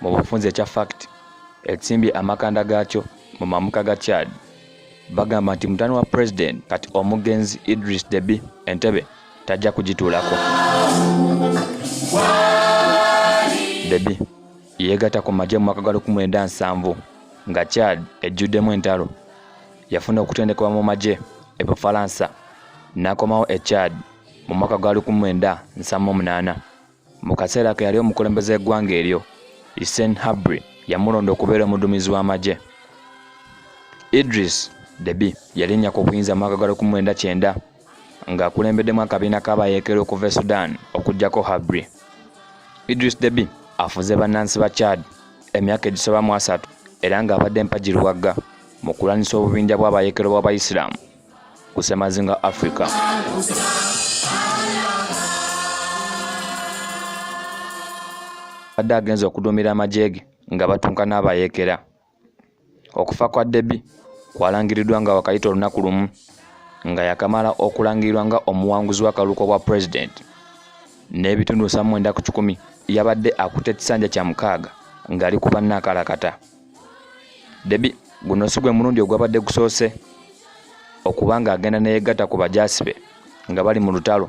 mu bufunze ekya fact ekimbye amakanda gaakyo mu mamuka ga Chad bagamba nti mutani wa president kati omugenzi Idris Deby Entebbe tajja kugituulako. Deby yeegatta ku magye mu mwaka gwa lukumi lwenda nsanvu nga Chad ejjuddemu entalo yafuna okutendekebwa mu magye e Bufalansa n'akomawo e Chad mu mwaka gwa lukumi lwenda nsanvu mu munaana. Mu kaseera ke yali omukulembeze w'eggwanga eryo, Hissène Habre yamulonda okubeera omuduumizi w'amagye. Idriss Deby yalinnya ku buyinza mu mwaka gwa lukumi lwenda kyenda ng'akulembeddemu akabiina k'abayeekera okuva e Sudan okuggyako Habre. Idriss Deby afuze bannansi ba Chad emyaka egisoba mu asatu era ng'abadde mpagi luwagga mu kulwanyisa obubinja bw'abayeekera b'Abayisiraamu. ku semazinga africa abadde agenze okuduumira amagye ge nga batunka n'abayeekera okufa kwa debi kwalangiriddwa nga wakayita olunaku lumu nga yakamala okulangirirwa nga omuwanguzi w'akaluuko bwa pulezidenti n'ebitundu 79 yabadde akutte ekisanja kya mukaaga ng'ali ku bannaakalakata debi guno si gwe mulundi ogwabadde gusoose okuba nga agenda neyegatta ku bajaasi be nga bali mu lutalo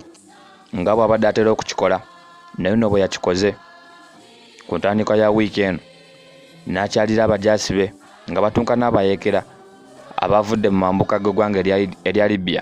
nga bwabadde atera okukikola naye no bwe yakikoze ku ntandikwa ya wiiki eno n'akyalira abajaasi be nga batunka n'abayeekera abavudde mu mambuka g'eggwanga erya libya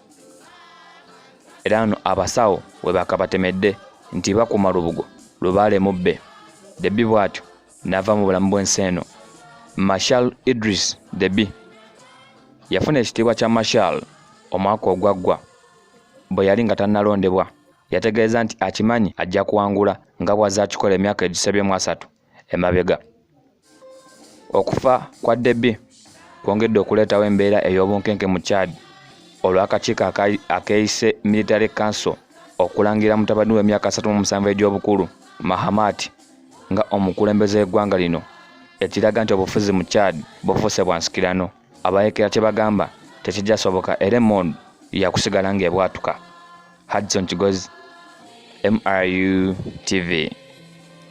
era wano abasawo we bakabatemedde nti bakuuma lubugo lubaale mubbe debi bw'atyo n'ava mu bulamu bw'ensi eno marshal idris debi yafuna ekitiibwa kya marshal omwaka ogwaggwa bwe yali nga tannalondebwa yategeeza nti akimanyi ajja kuwangula nga bw'azze akikola emyaka egisebye mu asatu emabega okufa kwa debi kwongedde okuleetawo embeera ey'obunkenke mu chad olw'akakiiko akeeyise military council okulangira mutabani w'emyaka 37 egy'obukulu mahamat nga omukulembeze w'eggwanga lino ekiraga nti obufuzi mu chad bufuuse bwa nsikirano abayekera kye bagamba tekijasoboka era emond yakusigala ng'ebwatuka hadson kigozi mru tv